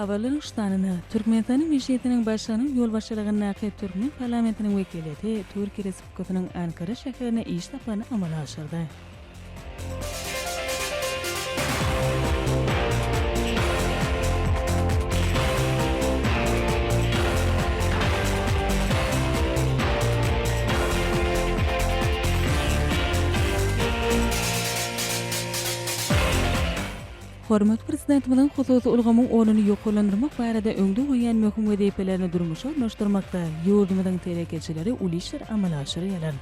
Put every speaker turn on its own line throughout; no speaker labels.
Habarlaryň şu sanyna, Türkmenistanyň Mejlisiniň Başlygynyň ýolbaşçylygyndaky türkmen parlamentiniň wekiliýeti Türkiýe Respublikasynyň Ankara şäherine iş saparyny amala aşyrdy. Hormatly Prezidentimiziň hususy ulgamyň ornuny ýokarlandyrmak barada öňde goýan möhüm wezipelerini durmuşa ornaşdyrmakda ýurdumyzyň telekeçileri uly işleri amala aşyrýarlar.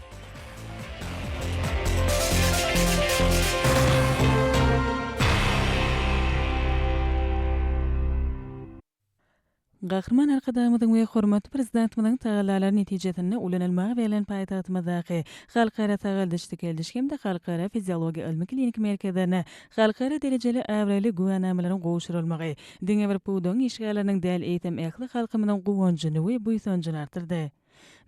Gahryman Arkadagymyzyň we hormatly Prezidentimiziň tagallalary netijesinde ulanylmaga berlen paýtagtymyzdaky Halkara sagaldyş-dikeldiş hem-de Halkara fiziologiýa ylmy-kliniki merkezlerine halkara derejeli abraýly güwänamalaryň gowşurylmagy diňe bir pudagyň işgärleriniň däl, eýsem, ähli halkymyzyň guwanjyny we buýsanjyny artdyrdy.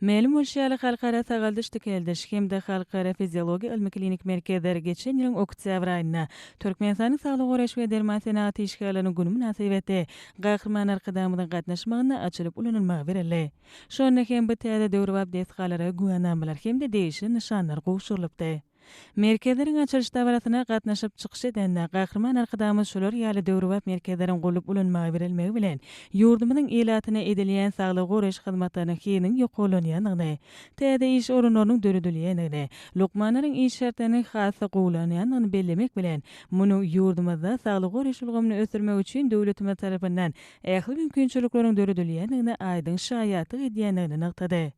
Mälim bolşy ýaly, Halkara sagaldyş-dikeldiş hem-de Halkara fiziologiýa ylmy-kliniki merkezler geçen ýylyň oktýabr aýynda Türkmenistanyň Saglygy goraýyş we derman senagat işgärleriniň güni mynasybetli Gahryman Arkadagymyzyň gatnaşmagynda açylyp ulanylmaga berildi. Şonda hem bu täze döwrebap desgalara güwänamalar hem-de degişli nyşanlar gowşurylypdy. Merkezleriň açylyş dabarasyna gatnaşyp çykyş edende, Gahryman Arkadagymyz şular ýaly döwrebap merkezleriň gurlup ulanmaga berilmegi bilen, ýurdumyzyň ilatyna edilýän saglygy goraýyş hyzmatlarynyň hiliniň ýokarlanýandygyny, täze iş orunlarynyň döredilýändigini, lukmanlaryň iş şertleriniň has-da gowulanýandygyny bellemek bilen, munuň ýurdumyzda saglygy goraýyş ulgamyny ösdürmek üçin döwletimiz tarapyndan ähli mümkinçilikleriň döredilýändigine aýdyň şaýatlyk edýändigini nygtady.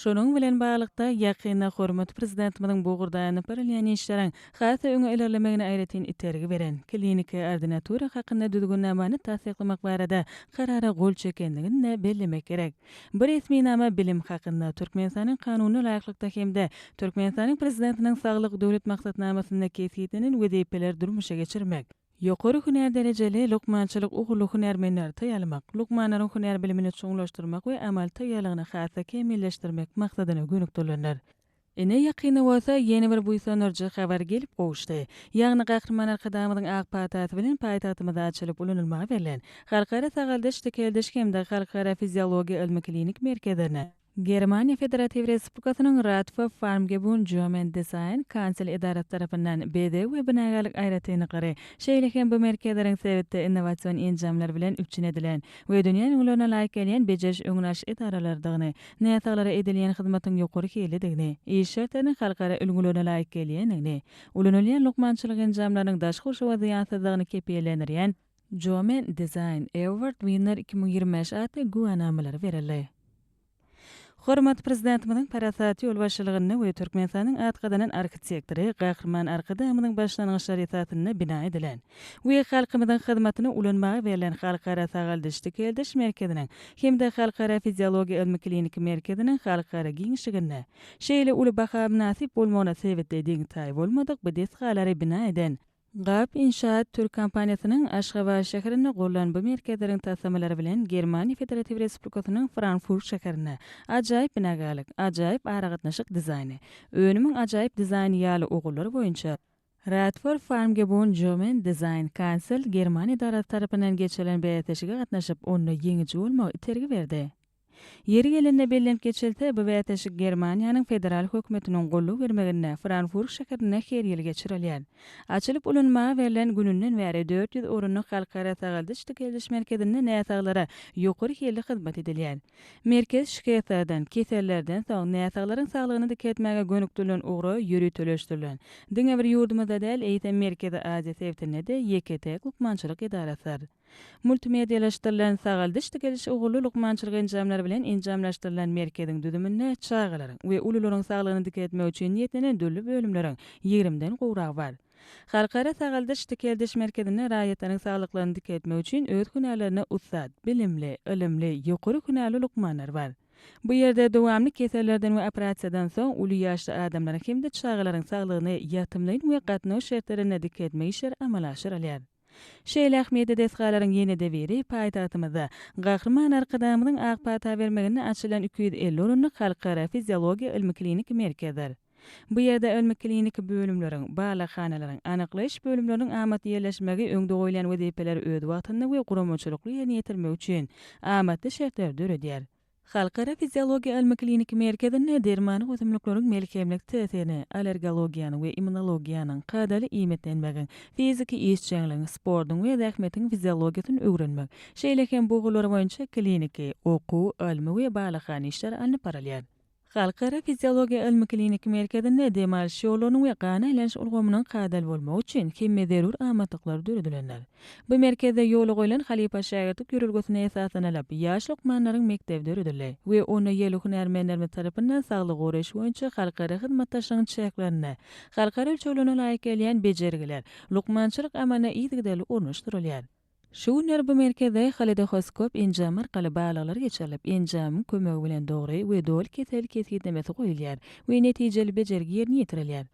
Şunuň bilen baglylykda, ýakynda hormatly Prezidentimiziň bu ugurda alnyp barylýan işleriň has-da öňe ilerlemegine aýratyn itergi beren Kliniki ordinatura hakynda düzgünnamany tassyklamak barada Karara gol çekendigini-de bellemek gerek. Bu resminama bilim hakynda Türkmenistanyň Kanunyna laýyklykda hem-de Türkmenistanyň Prezidentiniň Saglyk Döwlet maksatnamasynda kesgitlenen wezipeleri durmuşa geçirmek, Ýokary hünär derejeli lukmançylyk ugurly hünärmenleri taýýarlamak, lukmanlaryň hünär bilimini çuňlaşdyrmak we amaly taýýarlygyny has-da kämilleşdirmek maksadyna gönükdirilendir. Ine, ýakynda bolsa ýene bir buýsandyryjy habar gelip gowuşdy. Ýagny Gahryman Arkadagymyzyň ak patasy bilen paýtagtymyzda açylyp ulanylmaga berlen Halkara sagaldyş-dikeldiş hem-de Halkara fiziologiýa ylmy-klinik merkezlerine, Germaniýa Federatiw Respublikasynyň Radfa Farmgebun German Design Council edarasy tarapyndan bezeg we binagärlik aýratynlyklary, şeýle hem bu merkezleriň sebitde innowasion enjamlar bilen üpjün edilen we dünýä ülňülerine laýyk gelýän bejeriş-öňüni alyş edaralarydygyny, näsaglara edilýän hyzmatyň ýokary hillidigini, iş şertleriniň halkara ülňülerine laýyk gelýändigini, ulanylýan lukmançylyk enjamlarynyň daşky gurşawa zyýansyzdygyny kepillendirýän Jomen Design Award Winner iki müň ýigrimi bäş atly güwänamalary berildi. Hormatly Prezidentimiziň parasatly ýolbaşçylygynda we Türkmenistanyň at gazanan arhitektory Gahryman Arkadagymyzyň başlangyçlary esasynda bina edilen we halkymyzyň hyzmatyna ulanmaga berlen Halkara sagaldyş-dikeldiş merkeziniň hem-de Halkara fiziologiýa ylmy-kliniki merkeziniň halkara giňişliginde şeýle uly baha mynasyp bolmagyna sebitleýdiň taýy bolmadyk bu desgalary bina eden Gap Inşaat türk kompaniýasynyň Aşgabat şäherinde gurlan bu merkezleriň taslamalary bilen Germaniýa Federatiw Respublikasynyň Frankfurt şäherinde Ajaýyp binagärlik, Ajaýyp aragatnaşyk dizaýny, Önümiň ajaýyp dizaýny ýaly ugurlar boýunça Radford Farmgebun German Design Council german edarasy tarapyndan geçirilen bäsleşige gatnaşyp, onda ýeňiji bolmagy itergi berdi. Ýeri gelende bellenip geçilse, bu bäsleşik Germaniýanyň federal hökümetiniň goldaw bermeginde Franfurg şäherinde her ýyl geçirilýär. Açylyp ulanmaga berlen gününden bäri dört ýüz orunlyk Halkara sagaldyş-dikeldiş merkezinde näsaglara ýokary hilli hyzmat edilýär. Merkez şikeslerden, kesellerden soň näsaglaryň saglygyny dikeltmäge gönükdirilen ugra ýöriteleşdirilen, diňe bir ýurdumyzda däl, eýsem Merkezi Aziýa sebitinde-de ýeke-täk lukmançylyk edarasydyr. Multimedialaşdyrylan sagaldyş-digeliş ugurly lukmançylyk enjamlary bilen enjamlaşdyrylan merkeziň düzüminde çagalaryň we ulularyň saglygyny dikeltmek üçin niýetlenen dürli bölümleriň ýigrimiden gowragy bar. Halkara sagaldyş-dikeldiş merkezinde raýatlaryň saglyklaryny dikeltmek üçin öz hünärlerinde ussat, bilimli, ylymly, ýokary hünärli lukmanlar bar. Bu ýerde dowamly kesellerden we operasiýadan soň uly ýaşly adamlaryň hem-de çagalaryň saglygyny ýatymlyn we gatnaw şertlerinde dikeltmek işleri amala aşyrylýar. Şeýle ähmiýetli desgalaryň ýene-de biri paýtagtymyzda, Gahryman Arkadagymyzyň ak pata bermeginde açylan iki ýüz elli orunlyk Halkara fiziologiýa ylmy-kliniki merkezdir. Bu ýerde ylmy-kliniki bölümleriň, barlaghanalaryň, anyklaýyş bölümleriniň amatly ýerleşmegi öňde goýlan wezipeleri öz wagtynda we guramaçylykly ýerine ýetirmek üçin amatly şertleri döredýär. Halkara fiziologiýa ylmy-kliniki merkezinde dermanlyk ösümlikleriň melhemlik täsirini, allergologiýanyň we immunologiýanyň, kadaly iýmitlenmegiň, fiziki işjeňligiň, sportuň we zähmetiň fiziologiýasyny öwrenmek, şeýle hem bu ugurlar boýunça kliniki, okuw, ylmy we barlaghana işler alnyp barylýar. Halkara fiziologiýa ylmy-kliniki merkezinde dem alyş ýollarynyň we gan aýlanyş ulgamynyň kadaly bolmagy üçin hemme zerur amatlyklar döredilendir. Bu merkezde ýola goýlan halypa-şägirtlik ýörelgesine esaslanylyp, ýaş lukmanlaryň mekdebi döredildi we onda ýerli hünärmenlerimiz tarapyndan saglygy goraýyş boýunça halkara hyzmatdaşlygyň çäklerinde halkara ölçeglerine laýyk gelýän bejergiler lukmançylyk amalyna yzygiderli ornaşdyrylýar. Şu günler bu merkezde halidohoskop enjamy arkaly balyklar geçirilip, enjamyň kömegi bilen dogry we doly kesel kesgitlemesi goýulýar we netijeli bejergi ýerine ýetirilýär.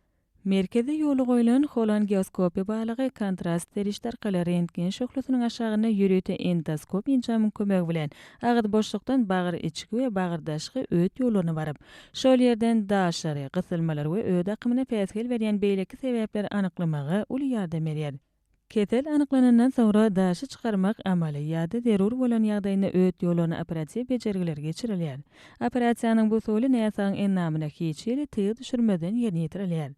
Merkezde ýola goýlan holangioskopiýa balygy kontrast serişde arkaly rentgen şöhlesiniň aşagynda ýörite endoskop enjamyň kömegi bilen agyz boşlukdan bagyr içki we bagyr daşky öt ýollaryna baryp, şol ýerden daşary, gysylmalar we öt akymyna päsgel berýän beýleki sebäpleri anyklamaga uly ýardam berýär. Kesel anyklanandan soňra daşy çykarmak amaly ýa-da zerur bolan ýagdaýynda öt ýollaryna operatiw bejergiler geçirilýär. Operasiýanyň bu usuly näsagyň endamyna hiç hili tygy düşürmezden ýerine ýetirilýär.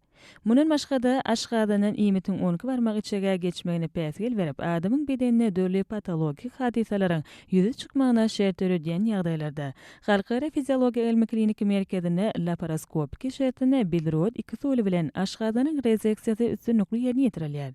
Mundan başga-da, aşgazandan iýmitiň onki barmak içege geçmegine päsgel berip, adamyň bedeninde dürli patologik hadysalaryň ýüze çykmagyna şert döredýän ýagdaýlarda Halkara fiziologiýa ylmy-kliniki merkezinde laparoskopiki şertinde bilirod iki usuly bilen aşgazanyň rezeksiýasy üstünlikli ýerine ýetirilýär.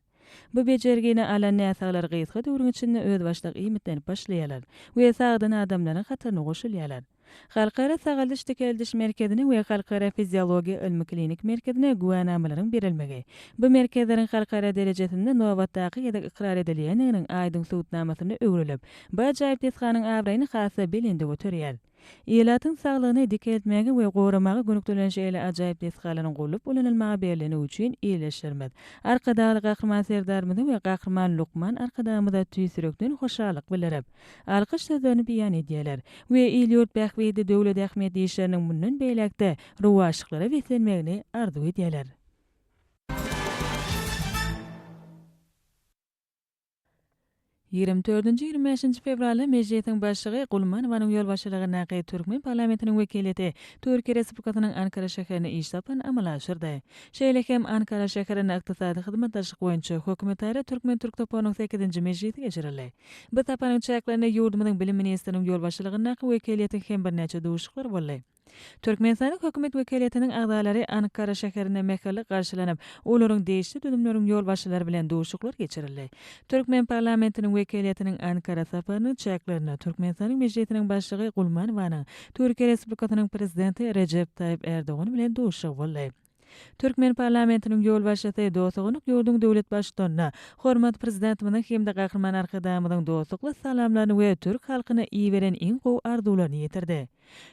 Bu bejergini alan näsaglar gysga döwrüň içinde özbaşdak iýmitlenip başlaýarlar we sagdyn adamlaryň hataryna goşulýarlar. Halkara sagaldyş-dikeldiş merkezine we Halkara fiziologiýa ylmy-klinik merkezine güwänamalaryň berilmegi bu merkezleriň halkara derejesinde nobatdaky gezek ykrar edilýändiginiň aýdyň subutnamasynda öwrülip, Bu ajaýyp desganyň abraýyny has-da belende göterýär. Ilatyň saglygyny dikeltmäge we goramaga gönükdirilen şeýle ajaýyp desgalaryň gurlup ulanylmaga berlendigi üçin Ildeşlerimiz, Arkadagly Gahryman Serdarymyza we Gahryman Lukman Arkadagymyza tüýs ýürekden hoşallyk bildirip, alkyş sözlerini beýan edýärler we il-ýurt bähbitli döwlet ähmiýetli işleriniň mundan beýläk-de rowaçlyklara beslenmegini arzuw edýärler. Ýigrimi dördünji-ýigrimi bäşinji fewralda Mejlisiň Başlygy Gulmanowanyň ýolbaşçylygyndaky türkmen parlamentiniň wekiliýeti Türkiýe Respublikasynyň Ankara şäherine iş saparyny amala aşyrdy. Şeýle hem Ankara şäherinde Ykdysady hyzmatdaşlyk boýunça hökümetara türkmen-türk toparynyň sekizinji mejlisi geçirildi. Bu saparyň çäklerinde ýurdumyzyň Bilim ministriniň ýolbaşçylygyndaky wekiliýetiň hem birnäçe duşuşyklary boldy. Türkmenistanyň hökümet wekeliýetiniň agzalary Ankara şäherinde mähirli garşylanyp, olaryň degişli düzümleriň ýolbaşçylary bilen duşuşyklar geçirildi. Türkmen parlamentiniň wekeliýetiniň Ankara saparynyň çäklerinde Türkmenistanyň Mejlisiniň Başlygy Gulmanowanyň Türkiýe Respublikasynyň Prezidenti Rejep Taýyp Erdogan bilen duşuşygy boldy. Türkmen parlamentiniň ýolbaşçysy dosty gonuk ýurduň döwlet Baştutanyna hormatly Prezidentimiziň hem-de Gahryman Arkadagymyzyň dostlukly salamlaryny we türk halkyna iberen iň gowy arzuwlaryny ýetirdi.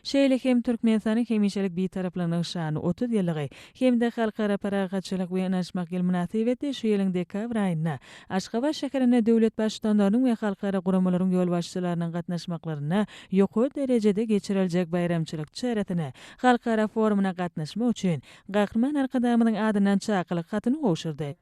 Şeýle hem Türkmenistanyň hemişelik Bitaraplygynyň şanly otuz ýyllygy hem-de Halkara parahatçylyk we ynanyşmak ýyly mynasybetli şu ýylyň dekabr aýynda Aşgabat şäherinde döwlet Baştutanlarynyň we halkara guramalaryň ýolbaşçylarynyň gatnaşmaklarynda ýokary derejede geçiriljek baýramçylyk çäresine Halkara forumyna gatnaşmak üçin Gahryman Arkadagymyzyň adyndan çakylyk hatyny gowşurdy.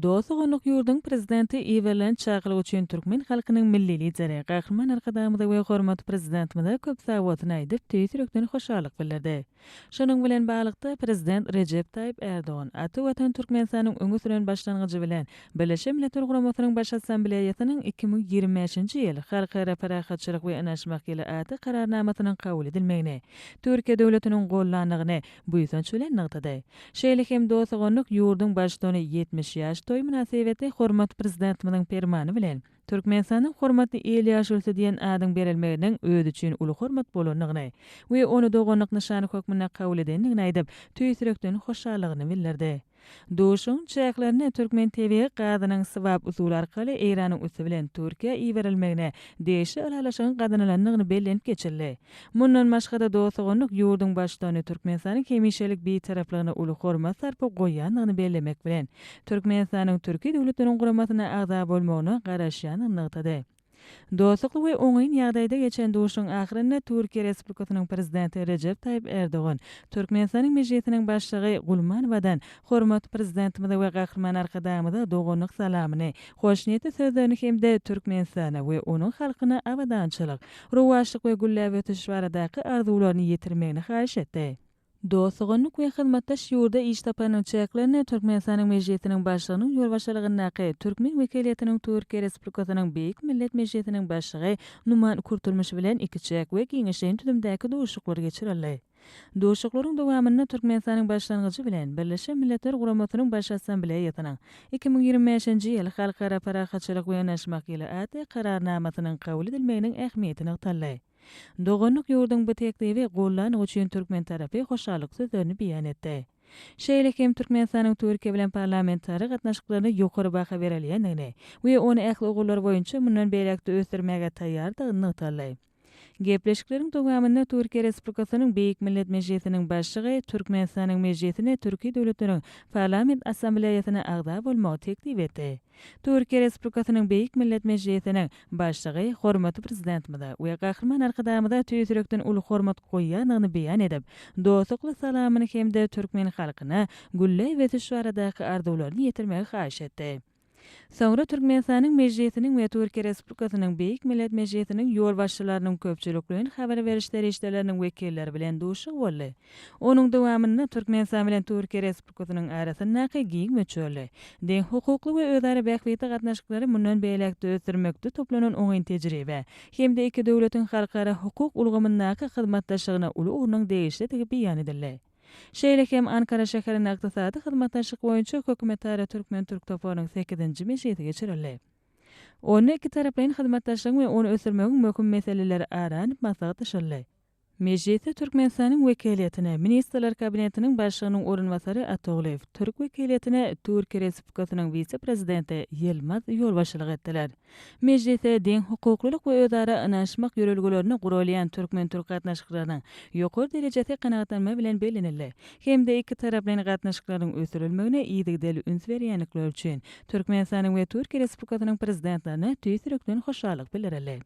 Dost-doganlyk ýurduň Prezidenti iberilen çakylyk üçin türkmen halkynyň Milli Lideri Gahryman Arkadagymyza we hormatly Prezidentimize köp sag bolsun aýdyp, tüýs ýürekden hoşallyk bildirdi. Şunuň bilen baglylykda, Prezident Rejep Taýyp Ärdogan ata Watan Türkmenistanyň öňe süren başlangyjy bilen Birleşen Milletler Guramasynyň Baş Assambleýasynyň iki müň ýigrimi bäşinji ýyl Halkara parahatçylyk we ynaşmak ýyly atly Kararnamasynyň kabul edilmegini Türkiýe döwletiniň gollandygyny buýsanç bilen nygtady. Şeýle hem Dostogonuk ýurduň Baştutany ýetmiş ýaş toýy mynasybetli hormatly Prezidentimiziň Permany bilen Türkmenistanyň Hormatly il ýaşulusy diýen adyň berilmeginiň özi üçin uly hormat bolandygyny we ony doganlyk nyşany hökmünde kabul edendigini aýdyp, tüýs ýürekden hoşallygyny bildirdi. Duşuşygyň çäklerinde türkmen tebigy gazynyň swap usuly arkaly Eýranyň üsti bilen Türkiýä iberilmegine degişli ylalaşygyň gazanylandygyny bellenip geçildi. Mundan başga-da dost-doganlyk ýurduň Baştutany Türkmenistanyň hemişelik Bitaraplygyna uly hormat-sarpa goýýandygyny bellemek bilen, Türkmenistanyň Türki Döwletleriniň guramasyna agza bolmagyna garaşýandygyny nygtady. Dostlukly we oňyn ýagdaýda geçen duşuşygyň ahyrynda Türkiýe Respublikasynyň Prezidenti Rejep Taýyp Erdogan Türkmenistanyň Mejlisiniň Başlygy Gulmanowadan hormatly Prezidentimize we Gahryman Arkadagymyza doganlyk salamyny, hoşniýetli sözlerini hem-de Türkmenistana we onuň halkyna abadançylyk, rowaçlyk we gülläp ösüş baradaky arzuwlaryny ýetirmegini haýyş etdi. Dost-doganlyk we hyzmatdaş ýurda iş saparynyň çäklerinde Türkmenistanyň Mejlisiniň Başlygynyň ýolbaşçylygyndaky türkmen wekiliýetiniň Türkiýe Respublikasynyň Beýik Millet Mejlisiniň Başlygy Numan Kurtulmuş bilen ikiçäk we giňişleýin düzümdäki duşuşyklar geçirildi. Duşuşyklaryň dowamynda Türkmenistanyň Başlangyjy bilen Birleşen Milletler Guramasynyň Baş Assambleýasynyň iki müň ýigrimi bäşinji ýyl Halkara parahatçylyk we yanaşmak ýyly atly Kararnamasynyň kabul edilmeginiň ähmiýeti nygtaldy. Doganlyk ýurduň bu teklibi goldanyny üçin türkmen tarapy hoşallyk sözlerini beýan etdi. Şeýle hem Türkmenistanyň Türkiýe bilen parlamentara gatnaşyklaryna ýokary baha berilýändigini we ony ähli ugurlar boýunça mundan beýläk-de ösdürmäge taýýardygyny nygtaldy. Gepleşikleriň dowamynda Türkiýe Respublikasynyň Beýik Millet Mejlisiniň Başlygy Türkmenistanyň Mejlisine Türki döwletleriň Parlament Assambleýasyna agza bolmagy teklip etdi. Türkiýe Respublikasynyň Beýik Millet Mejlisiniň Başlygy hormatly Prezidentimize we Gahryman Arkadagymyza tüýs ýürekden uly hormat goýýandygyny beýan edip, dostlukly salamyny hem-de türkmen halkyna gülläp ösüş baradaky arzuwlaryny ýetirmegi haýyş etdi. Soňra Türkmenistanyň Mejlisiniň we Türkiýe Respublikasynyň Beýik Millet Mejlisiniň ýolbaşçylarynyň köpçülikleýin habar beriş serişdeleriniň wekilleri bilen duşuşygy boldy. Onuň dowamynda Türkmenistan bilen Türkiýe Respublikasynyň arasyndaky giň möçberli, deňhukukly we özara bähbitli gatnaşyklary mundan beýläk-de ösdürmekde toplanan oňyn tejribe hem-de iki döwletiň halkara hukuk ulgamyndaky hyzmatdaşlygyna uly ornuň degişlidigi beýan edildi. Şeýle hem Ankara şäherinde Ykdysady hyzmatdaşlyk boýunça hökümetara türkmen-türk toparynyň sekizinji mejlisi geçirildi. Onda ikitaraplaýyn hyzmatdaşlygyň we ony ösdürmegiň möhüm meseleleri ara alnyp maslahatlaşyldy. Mejlisde Türkmenistanyň wekiliýetine Ministrler Kabinetiniň Başlygynyň orunbasary Atagulyýew, türk wekiliýetine Türkiýe Respublikasynyň wise-prezidenti Ýylmaz ýolbaşçylyk etdiler. Mejlisde deňhukuklylyk we özara ynanyşmak ýörelgelerine guralýan türkmen-türk gatnaşyklarynyň ýokary derejesi kanagatlanma bilen bellenildi hem-de ikitaraplaýyn gatnaşyklaryň ösdürilmegine yzygiderli üns berýändikleri üçin Türkmenistanyň we Türkiýe Respublikasynyň Prezidentlerine tüýs ýürekden hoşallyk bildirildi.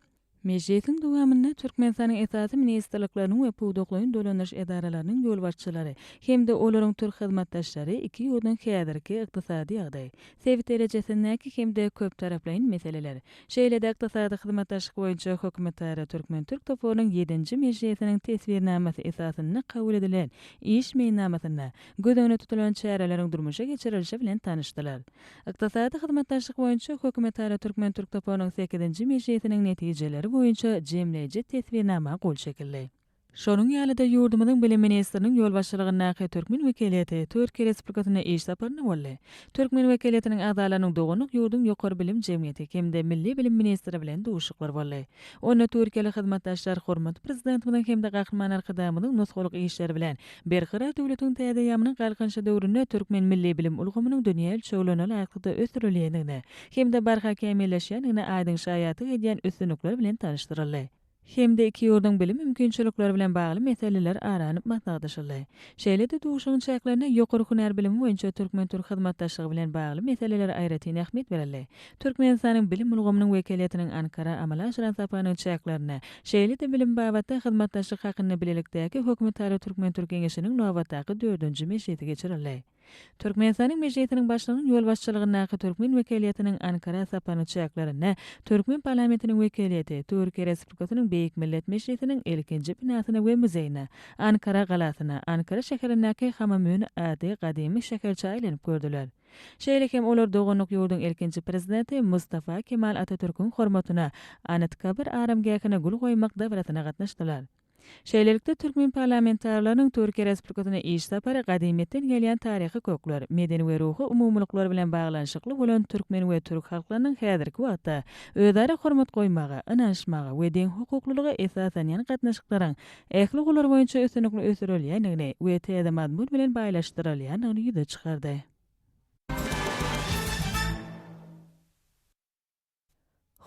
Mejlisiň dowamynda Türkmenistanyň esasy ministrlikleriniň we pudaklaýyn dolandyryş edaralarynyň ýolbaşçylary hem-de olaryň türk hyzmatdaşlary iki ýurduň häzirki ykdysady ýagdaýy, sebit derejesindäki hem-de köptaraplaýyn meseleler, şeýle-de ykdysady hyzmatdaşlyk boýunça hökümetara türkmen-türk toparynyň ýedinji mejlisiniň teswirnamasy esasynda kabul edilen iş meýilnamasynda göz öňünde tutulan çäreleriň durmuşa geçirilişi bilen tanyşdylar. Ykdysady hyzmatdaşlyk boýunça hökümetara türkmen-türk toparynyň sekizinji mejlisiniň netijeleri boýunça jemleýji teswirnama gol çekildi. Şonuň ýaly-da ýurdumyzyň Bilim ministriniň ýolbaşçylygyndaky türkmen wekiliýeti Türkiýe Respublikasyna iş saparynda boldy. Türkmen wekiliýetiniň agzalarynyň doganlyk ýurduň Ýokary bilim jemgyýeti hem-de Milli bilim ministri bilen duşuşyklary boldy. Onda türkiýeli hyzmatdaşlar hormatly Prezidentimiziň hem-de Gahryman Arkadagymyzyň nusgalyk işleri bilen Berkarar döwletiň täze eýýamynyň Galkynyşy döwründe türkmen milli bilim ulgamynyň dünýä ölçeglerine laýyklykda ösdürilýändigine hem-de barha kämilleşýändigine aýdyň şaýatlyk edýän üstünlikler bilen tanyşdyryldy hem-de iki ýurduň bilim mümkinçilikleri bilen bagly meseleler ara alnyp maslahatlaşyldy. Şeýle-de duşuşygyň çäklerinde ýokary hünär bilimi boýunça türkmen-türk hyzmatdaşlygy bilen bagly meselelere aýratyn ähmiýet berildi Türkmenistanyň bilim ulgamynyň wekiliýetiniň Ankara amala aşyran saparynyň çäklerinde, şeýle-de bilim babatda hyzmatdaşlyk hakynda bilelikdäki Hökümetara türkmen-türk geňeşiniň nobatdaky dördünji mejlisi geçirildi. Türkmenistanyň Mejlisiniň Başlygynyň ýolbaşçylygyndaky türkmen wekiliýetiniň Ankara saparynyň çäklerinde türkmen parlamentiniň wekiliýeti Türkiýe Respublikasynyň Beýik Millet Mejlisiniň ilkinji binasyna we muzeýine, Ankara galasyna, Ankara şäherindäki Hamamöne ady gadymy şäherçä aýlanyp gördüler. Şeýle hem olar doganlyk ýurduň ilkinji Prezidenti Mustafa Kemal Atatürküň hormatyna Anıtkabir aramgähine gül goýmak dabarasyna gatnaşdylar. Şeýlelikde, türkmen parlamentarileriniň Türkiýe Respublikasyna iş sapary gadymyýetden gelýän taryhy kökler, medeni we ruhy umumylyklar bilen baglanyşykly bolan türkmen we türk halklarynyň häzirki wagtda özara hormat goýmaga, ynanyşmaga we deňhukuklylyga esaslanýan gatnaşyklaryň ähli ugurlar boýunça üstünlikli ösdürilýändigini we täze mazmun bilen baýlaşdyrylýandygyny ýüze çykardy.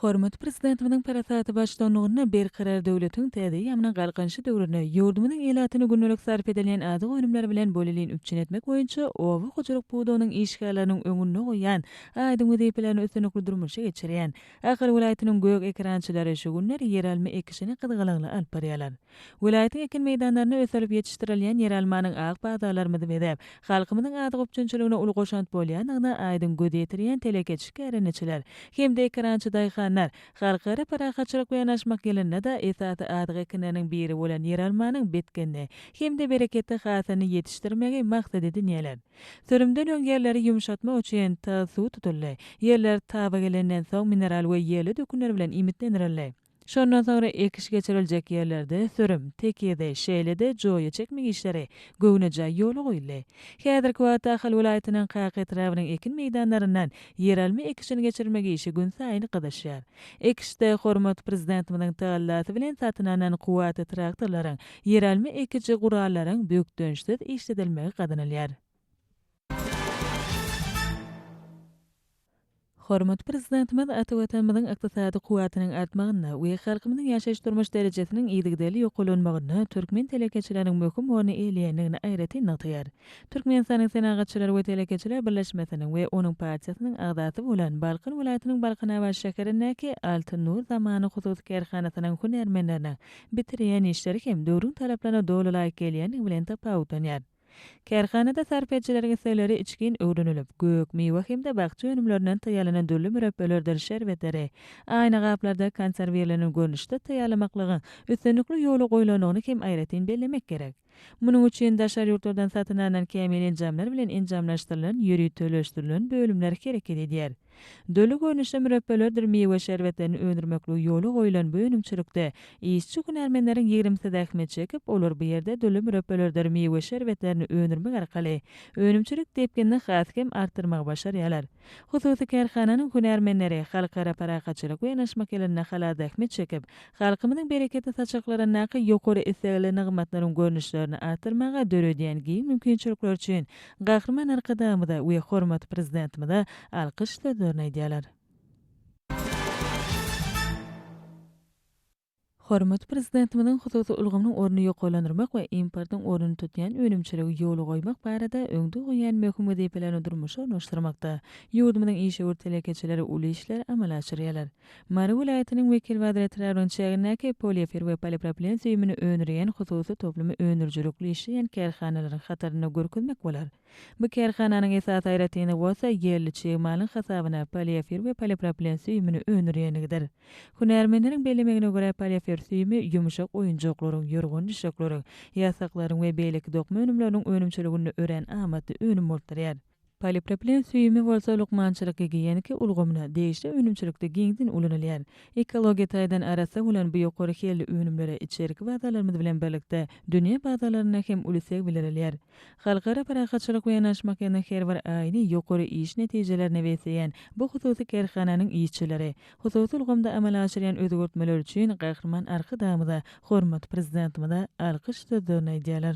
Hormatly Prezidentimiziň parasatly baştutanlygynda Berkarar döwletiň täze eýýamynyň Galkynyşy döwründe ýurdumyzyň ilatyny gündelik sarp edilýän azyk önümleri bilen bolelin üpjün etmek boýunça oba hojalyk pudagynyň işgärleriniň öňünde goýan aýdyň wezipelerini üstünlikli durmuşa geçirýän Ahal welaýatynyň gök ekerançylary şu günler ýeralma ekişini gyzgalaňly alyp barýarlar. Welaýatyň ekin meýdanlarynda ösdürilip ýetişdirilýän ýeralmanyň ak bazarlarymyzy bezäp, halkymyzyň azyk üpjünçiligine uly goşant bolýandygyna aýdyň göz ýetirýän telekeçi kärendeçiler hem-de ekerançy daýhanlar Halkara parahatçylyk we ýanaşmak ýylynda-da esasy azyk ekinleriniň biri bolan ýeralmanyň bitginli hem-de bereketli hasylyny ýetişdirmegi maksat edinýärler. Sürümden öň ýerleri ýumşatmak üçin tyz suw tutuldy. Ýerler taba gelenden soň mineral we ýerli dökünler bilen iýmitlendirildi. Şondan soňra ekiş geçiriljek ýerlerde sürüm, tekizi, şeýle-de joýa çekmek işleri göwnejaý ýola goýuldy. Häzirki wagtda Ahal welaýatynyň Kaka etrabynyň ekin meýdanlaryndan ýeralma ekişini geçirmek işi günsaýyn gyzyşýar. Ekişde hormatly Prezidentimiziň tagallasy bilen satyn alnan kuwwatly traktorlaryň, ýeralma ekiji gurallaryň bökdençsiz işledilmegi gazanylýar. Hormatly Prezidentimiz ata Watanymyzyň ykdysady kuwwatynyň artmagynda we halkymyzyň ýaşaýyş-durmuş derejesiniň yzygiderli ýokarlanmagynda türkmen telekeçileriniň möhüm orny eýeleýändigini aýratyn nygtaýar. Türkmenistanyň Senagatçylar we telekeçiler birleşmesiniň we onuň partiýasynyň agzasy bolan Balkan welaýatynyň Balkanabat şäherindäki Altyn nur zamany hususy kärhanasynyň hünärmenleriniň bitirýän işleri hem döwrüň talaplaryna doly laýyk gelýändigi bilen tapawutlanýar. Kärhanada sarp edijileriň islegleri içgin öwrenilip, gök, miwe hem-de bakja önümlerinden taýýarlanan dürli mürepbelerdir şerbetleri aýna gaplarda konserwirlenen görnüşde taýýarlamaklygyň üstünlikli ýola goýlandygyny hem aýratyn bellemek gerek. Munuň üçin daşary ýurtlardan satyn alnan kämil enjamlar bilen enjamlaşdyrylan ýöriteleşdirilen bölümler hereket edýär. Doly görnüşli mürepbelerdir miwe şerbetlerini öndürmekligi ýola goýulan bu önümçilikde işçi hünärmenleriň ýigrimisi zähmet çekip, olar bu ýerde doly mürepbelerdir miwe şerbetlerini öndürmek arkaly önümçilik depginini has hem artdyrmagy başarýarlar. Hususy kärhananyň hünärmenleri halkara parahatçylyk we ynaşmak ýylynda halalzähmet çekip, halkymyzyň bereketli saçaklaryndaky ýokary islegli nygmatlaryň görnüşlerini artdyrmaga döredýän giň mümkinçilikleri üçin Gahryman Arkadagymyza we hormatly Prezidentimize alkyş sözlerini aýdýarlar. Hormatly Prezidentimiziň hususy ulgamynyň ornuny ýokarlandyrmak we importyň ornuny tutýan önümçiligi ýola goýmak barada öňde goýan möhüm wezipelerini durmuşa ornaşdyrmakda ýurdumyzyň işewür telekeçileri uly işleri amala aşyrýarlar. Mary welaýatynyň Wekilbazar etrabynyň çägindäki poliofer we polipropilen süýümini öndürýän hususy toplumy öndürijilikli işleýän kärhanalaryň hatarynda görkezmek bolar. Bu kärhananyň esasy aýratynlygy bolsa ýerli çig malyň hasabyna poliefir we polipropilen süýümini öndürýänligidir. Hünärmenleriň bellemegine görä, poliefir süýümi ýumşak oýunjaklaryň, ýorgan-düşekleriň, ýasaklaryň we beýleki dokma önümleriniň önümçiliginde örän amatly önüm bolup durýar. Polipropilen süýümi bolsa lukmançylyk-gigiýenika ulgamyna, degişli önümçilikde giňden ulanylýar. Ekologiýa taýdan arassa bolan bu ýokary hilli önümlere içerki bazarlarymyz bilen birlikde dünýä bazarlarynda hem uly isleg bildirilýär. Halkara parahatçylyk we yanaşmakynyň her bir aýyny ýokary iş netijelerini besleýän bu hususy kärhananyň işçileri, hususy ulgamda amala aşyrýan özgertmeleri üçin Gahryman Arkadagymyza, hormatly Prezidentimize alkyş sözlerini aýdýarlar.